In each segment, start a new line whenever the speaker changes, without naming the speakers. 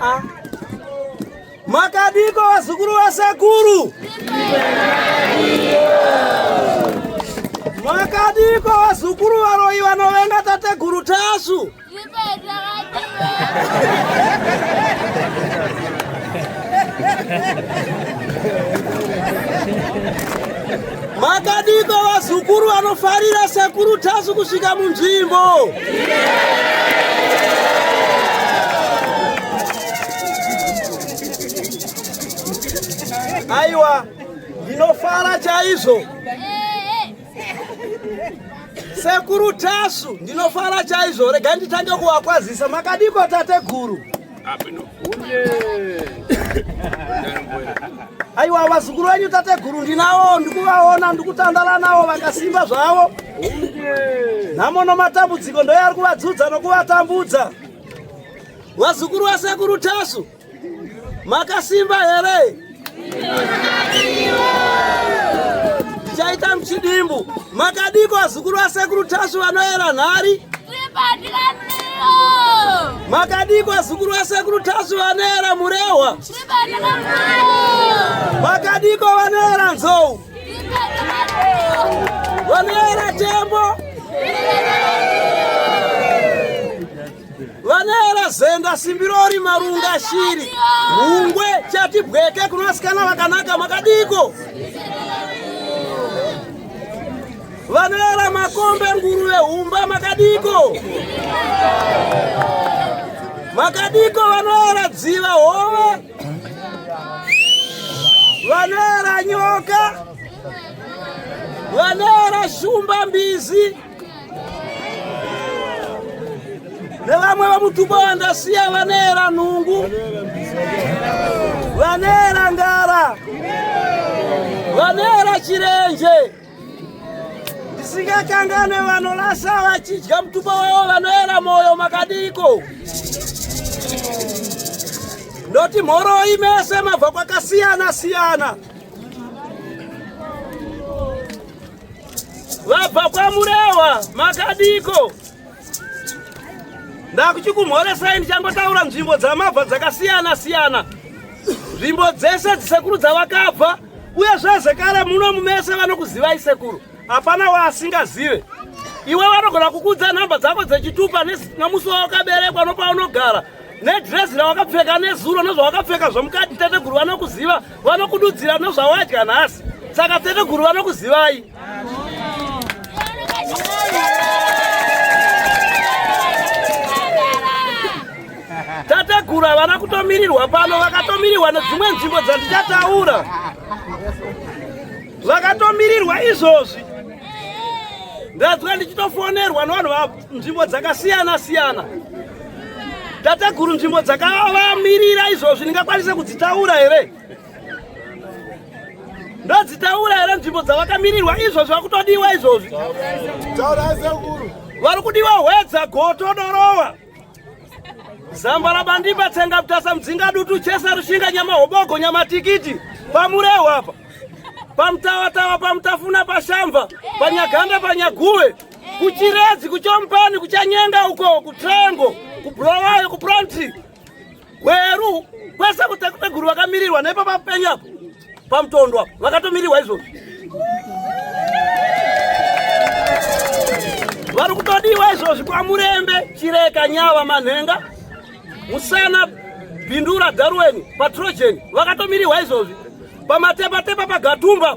Ah. Makadiko wazukuru wasekuru Makadiko wazukuru varoyi vanovenga tateguru Tasvu Makadiko vazukuru vanofarira sekuru Tasvu kusvika munzvimbo. Aiwa, ndinofara chaizvo. Sekuru Tasvu, ndinofara chaizvo. Rega nditange kuvakwazisa. Makadiko tateguru? aiwa vazukuru venyu tateguru ndinavo ndikuvaona ndikutandala navo vakasimba zvavo nhamo nomatambudziko ndoye ari kuvadzudza nokuvatambudza vazukuru vasekuru tasu makasimba here Chaita mchidimbu makadiko azukuru asekuru Tasvu vanoera nhari makadiko azukuru asekuru Tasvu vanoera murehwa makadiko vanoera nzou vanoera tembo vanaera zenda simbirori marunga shiri hungwe chati bweke kuna vasikana vakanaka makadiko vanoera makombe nguruve humba makadiko makadiko vanoera dziva hove vanoera nyoka vanoera shumba mbizi nevamwe vamutupo vandasiya vanera nhungu vanera ngara vanera chirenje ndisingakanganwe vanorasa vachidya mutupo wavo vanoera mwoyo makadiko ndoti mhoroi mese mabva kwakasiyana siyana vabva kwamurewa makadiko ndakuchikumhoresai ndichangotaura nzvimbo dzamabva dzakasiyana siyana nzvimbo dzese dzisekuru dzavakabva uye zvezekare muno mumese vanokuzivai sekuru hapana waasingazive iwe vanogona kukudza nhamba dzako dzechitupa nomusi wawakaberekwa nokwaunogara no nedresi rawakapfeka nezuro nezvawakapfeka zvamukati teteguru vanokuziva vanokududzira nezvawadya nhasi saka teteguru vanokuzivai tateguru havana kutomirirwa pano vakatomirirwa nedzimwe nzvimbo dzandichataura zvakatomirirwa izvozvi ndadzwa ndichitofonerwa nevanhu vavo nzvimbo dzakasiyana siyana tateguru nzvimbo dzakavamirira izvozvi ndingakwanise kudzitaura here ndodzitaura here nzvimbo dzavakamirirwa izvozvi vakutodiwa izvozvi vari kudiwa hwedza goto dorowa zambara bandimba tsenga mutasa mudzinga dutu chesa rushinga nyama hobogo nyama tikiti pamurehwa apa pamutawatawa pamutafuna pashamva panyaganda panyaguve kuchiredzi kuchompani kuchanyenga uko kutrengo kubulawayo kupronti gweru kwese kutekupeguru vakamirirwa nepo papenyu apo pamutondo apo vakatomirirwa izvozvo vari kutodiwa izvozvi kwamurembe chireka nyava manhenga musana bindura dharuweni patrogen vakatomirirwa izvozvi pamatepatepa pagatumba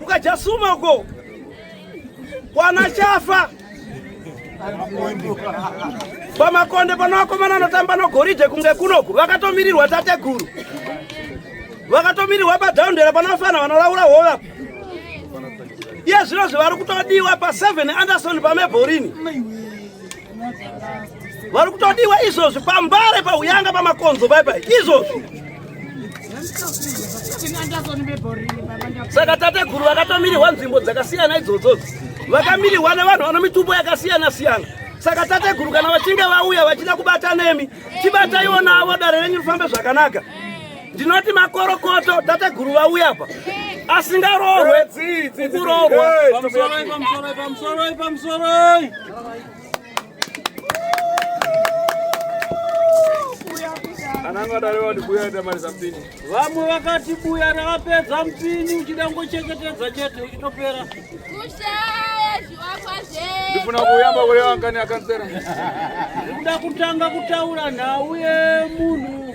Mukajasuma uko kwana chafa pamakonde pano vakomana anotamba nogoridhe kunge kunoku vakatomirirwa tateguru vakatomirirwa padhaundera panofana vanolaura hova iye zvino zvavari kutodiwa pa7 anderson pamebhorini vari kutodiwa izvozvi pambare pauyanga pamakonzo pai pai izvozvi saka tateguru vakatomirirwa nzvimbo dzakasiyana idzodzo vakamirirwa nevanhu vano mitumbo yakasiyana siyana saka tateguru kana vachinge vauya vachida kubata nemi tibataiwo navo dare renyu rifambe zvakanaka ndinoti makorokoto tateguru vauya apa asingaroorwe
kuroorwa vamwe vakati buya ravapedza mpini uchida ngocheketetedza chete uchitopera
ndifuna kuyamba kureva
ngani akansera ndikuda kutanga kutaura nhau yemunhu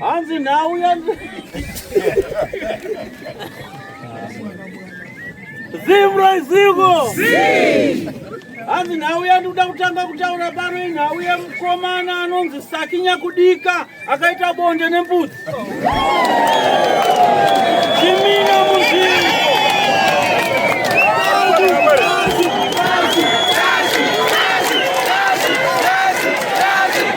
hanzi nhau ya zimro ziko hanzi nhau yandikuda kutanga kutaura pano inhau yemukomana anonzi saki nyakudika akaita bonde nembudzi chimina muzvii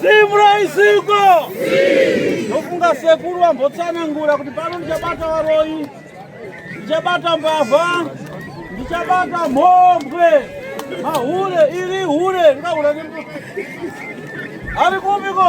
Simra isiko ndofunga sekuru vambotsanangura kuti pano ndichabata varoyi ndichabata mbavha ndichabata mhombwe mahure iri hure ndikahura nembuti ari kupiko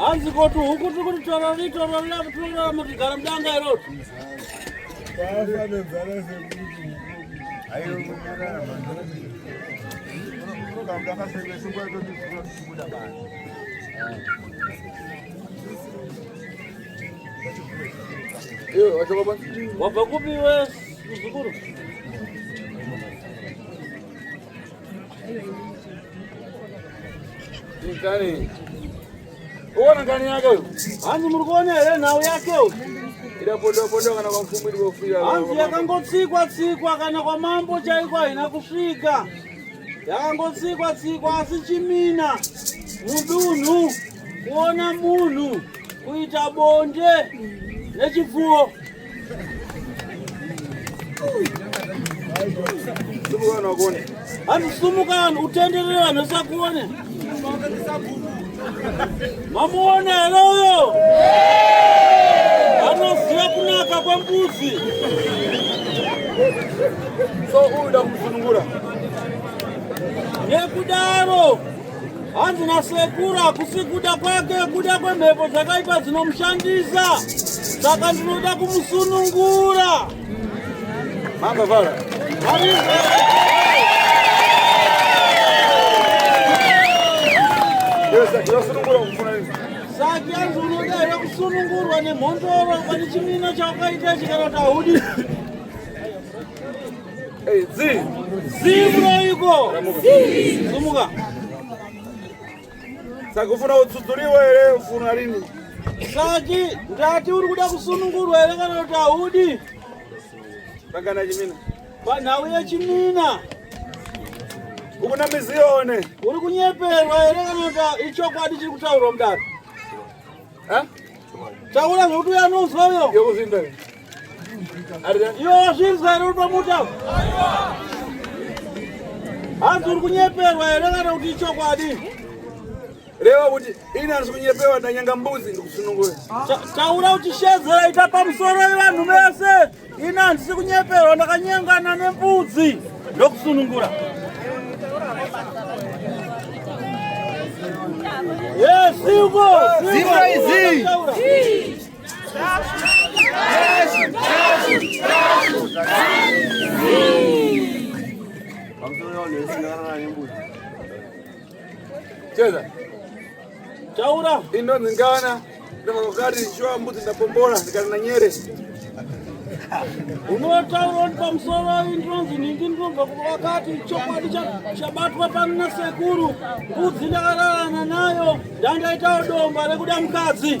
hanzi koti huku tiri kuti torori torori amutorora mutigara mudanga iroti wabva kupi we muzukuru Uona ngani yake huyo. Hanzi muri kuona here nhau yake huyo? Ida podo podo kana kwa mfumo ili kufika. Hanzi yakangotsikwa tsikwa kana kwa mambo chaiko haina kusvika. Yakangotsikwa tsikwa asi chimina mudunhu kuona munhu kuita bonde nechipfuwo. Hanu sumuka utenderere vanhu sakuone. Mamuone here uyo? Anoziva kunaka kwembuzi.
So uyu ndakusunungura.
Nekudaro hanzi nasekuru hakusi kuda kwake kuda kwemhepo dzakaipa dzinomushandisa saka ndinoda kumusunungura
mamba vara
saki yanzi unoda here kusunungurwa nemhondoro pane chimina chaukaita chikana kuti haudi Saka
ufuna utsudzuriwe here ufuna rini? Saki
ndati uri kuda kusunungurwa here kana kuti haudi?
Pakana chimina. Panhau
yechimina.
Ukuna mizione. Uri kunyeperwa
here kana kuti ichokwadi chiri kutaurwa mudaro? Ha? Taura zvekuti uya anonzwa uyo. Yekuzvinda. Yo, zvinzwa iri pamuta. Hanzi uri kunyeperwa here kana kuti ichokwadi?
Reva kuti ini handisi kunyeperwa ndanyanga mbuzi ndikusunungura. Taura kuti
shedzera ita pamusoro yevanhu vese. Ini handisi kunyeperwa ndakanyengana nembudzi ndokusunungura. Yes, Hugo!
Zero is
Cheza.
Chaura. Indo ningana.
Ndama wakati shwa mbuzi ndapombora ndikana na nyere.
Unotaura kuti pamusoro indonzi ningi ndinobva wakati chokwadi chabatwa pano nasekuru mbudzi ndakararana nayo ndandaitawo domba rekuda mukadzi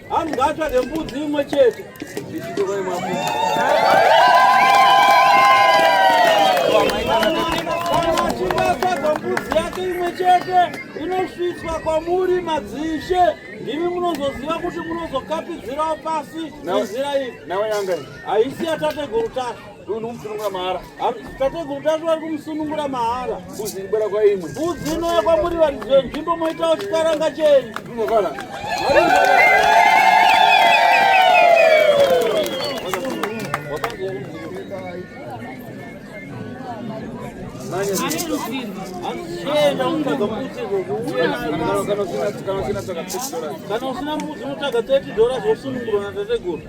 Anhu ngaatsvage mbudzi imwe chete. chete inosvitswa kwamuri madzishe ndimi munozoziva kuti munozokapidzirawo pasi izira iri haisi
yatateguru
tasha Uyu
ndikumusunungura mahara. Tateguru tatu
vari kumusunungura mahara. Mbuzi ibera kwa imwe.
Mbuzi inouya kwamuri
varidzi venzvimbo moitawo chikaranga chenyu.
Zvinofana.
kana usina mbuzi unotsvaga 30 dollars wosunungurwa natateguru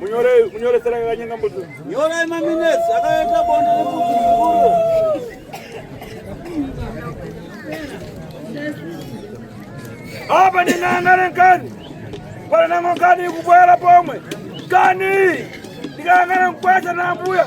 Munyore
munyore sera kanyenga mbuzi. Nyora ima minutes
akaenda bonde lembuzi
mukuru. Apa ni nanga renkani. Para nanga kani kubwela pomwe. Kani. Ndikangana mkwata na mbuya.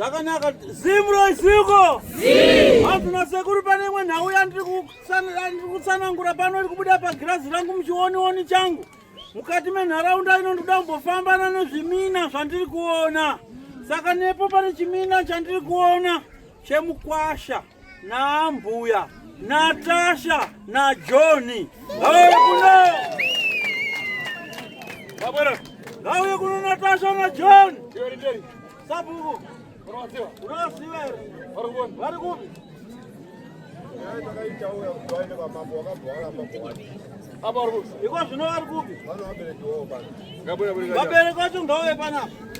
zvakanaka zimro isiko hanzi nasekuru pane imwe nhau yandiri kutsanangura pano iri kubuda pagirazi rangu muchionioni changu mukati menharaunda ino ndikuda kumbofambana nezvimina zvandiri kuona saka nepo pane chimina chandiri kuona chemukwasha naambuya Natasha na Johni ngauye kuno, ngauye kuno Natasha na John sabuku unoziva here vari kupi? Iko zvino vari kupi? Vabereki vacho ngauye panapa.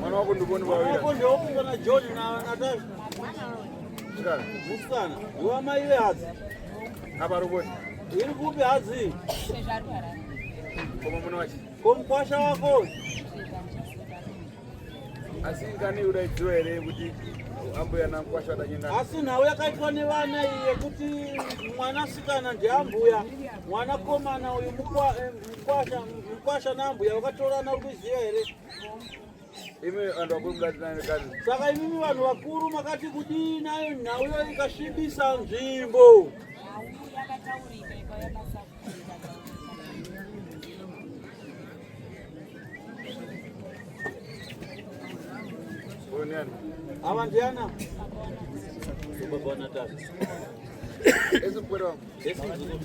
Mwana wako ndivoni vavira. Mwana wako ndivoni vana John
na Natasha.
Mwana Musikana.
Ndiwa mai ve hadzi. Apa
ruboni. Iri kupi
hadzi?
Koma mwana wacho. Komkwasha wako. Asi ngani udaidziwa here kuti ambuya nankwasha adanyengana. Asi nhau yakaitwa
nevana iyi yekuti mwanasikana ndiambuya. Mwana komana uyu mukwa eh, Mkwasha, mkwasha na mbuya vakatorana uri kuziva here?
Imi vanhu vakuru mukatinani kani. Saka imimi vanhu
vakuru makati kudii nayo nhau iyo ikasvibisa nzvimbo.
Ava ndiana?
Baba Natasha.
Esi mkwere wangu. Esi mkwere wangu.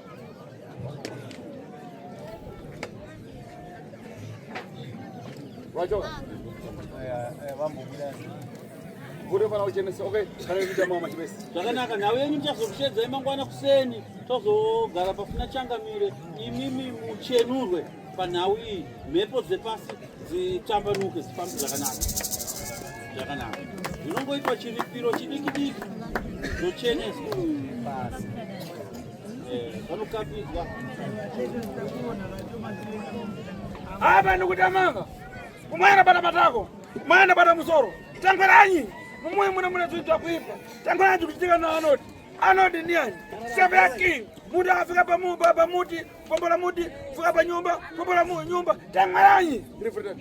Wacho. Kuri fana uchenese. Okay, kana kuita mama chibesi. Zvakanaka nhau yenyu
ndichazokushedzai mangwana kuseni. Tozogara pafuna changamire. Imimi muchenurwe. panhau iyi mhepo dzepasi dzitambanuke dzifambe zvakanaka zvakanaka zvinongoitwa chiripiro chidiki diki zvocheneswa pasi eh, vanokapidzwa
apa ndikutamanga kumwana bata matako mwana bata musoro tangweranyi mumwe mune mune zvinhu zvakuipa tangweranyi kuchitika naanoti anoti ndiani sevaki muti afika pamuti pombola muti fuka panyumba pombola nyumba tangwaranyi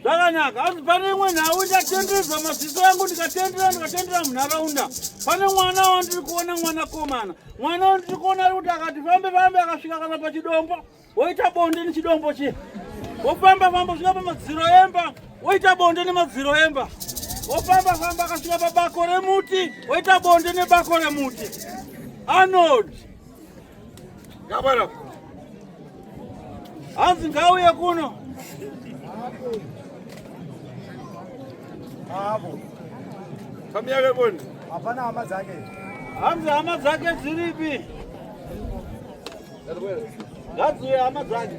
zvakanaka
asi pane imwe nhau ndatendereza maziso yangu ndikatendera ndikatendera munharaunda pane mwana wandiri kuona mwana komana mwana wandiri kuona ari kuti akati fambe fambe akasvika kana pachidombo woita bonde nechidombo chiya wofamba famba svika pamadziro emba woita bonde nemadziro emba wofamba famba akasvika pabako remuti woita bonde nebako remuti anod
Gabara. Hanzi
ngauye kuno.
Hapo. Kamiyake boni. Hapana hama dzake.
Hanzi hama
dzake dziripi? Ngadziuye hama dzake.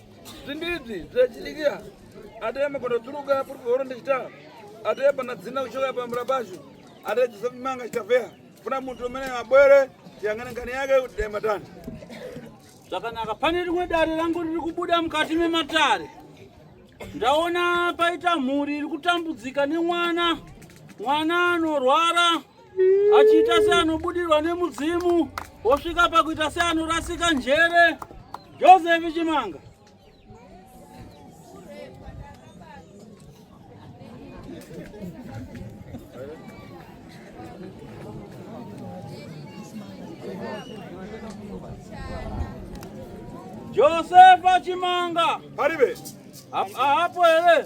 Zvimbidzi zvachidikia ataya makondo turuka puri kuhoro ndechita ataya pana dzina kuchoka pambura pashu ataya Joseph Manga chitavea kuna muntu umene mabwere yangana ngani yake kuti dai matani
zvakanaka pane rimwe dare rangu riri kubuda mukati mematare ndaona paita mhuri iri kutambudzika nemwana mwana anorwara achiita seanobudirwa nemudzimu wosvika pakuita seanorasika njere josefi chimanga josefa chimanga paribe
apo
here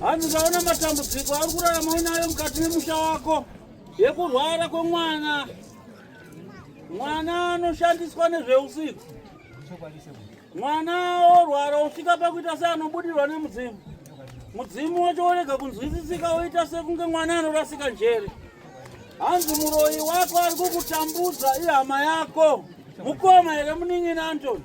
Hanzi
ukaona matambudziko ari kurarama uinayo mukati memusha wako yekurwara kwemwana, mwana anoshandiswa nezveusiku, mwana orwara osvika pakuita seanobudirwa nemudzimu, mudzimu wacho worega kunzwisisika, woita sekunge mwana anorasika njere. Hanzi muroyi wako ari kukutambudza ihama yako, mukoma here munin'ina Antoni?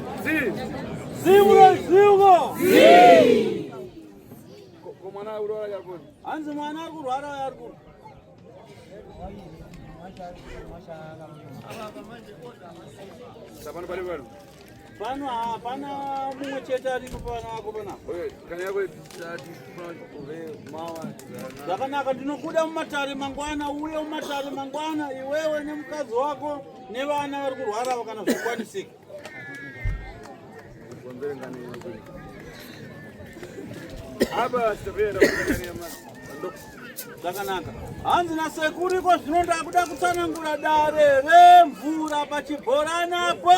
hanzi mwana ari
kurwara uyo ari kurwa
pano
hapana mumwe chete aripo pavana vako
panapozvakanaka
ndinokuda mumatare mangwana uye mumatare mangwana iwewe nemukadzi wako nevana vari kurwara vakana zvokwanisika
Aba sitapera kunyama.
Zvakanaka. Hanzi na sekuru iko zvino ndakuda kutsanangura dare remvura pachibhorani apo.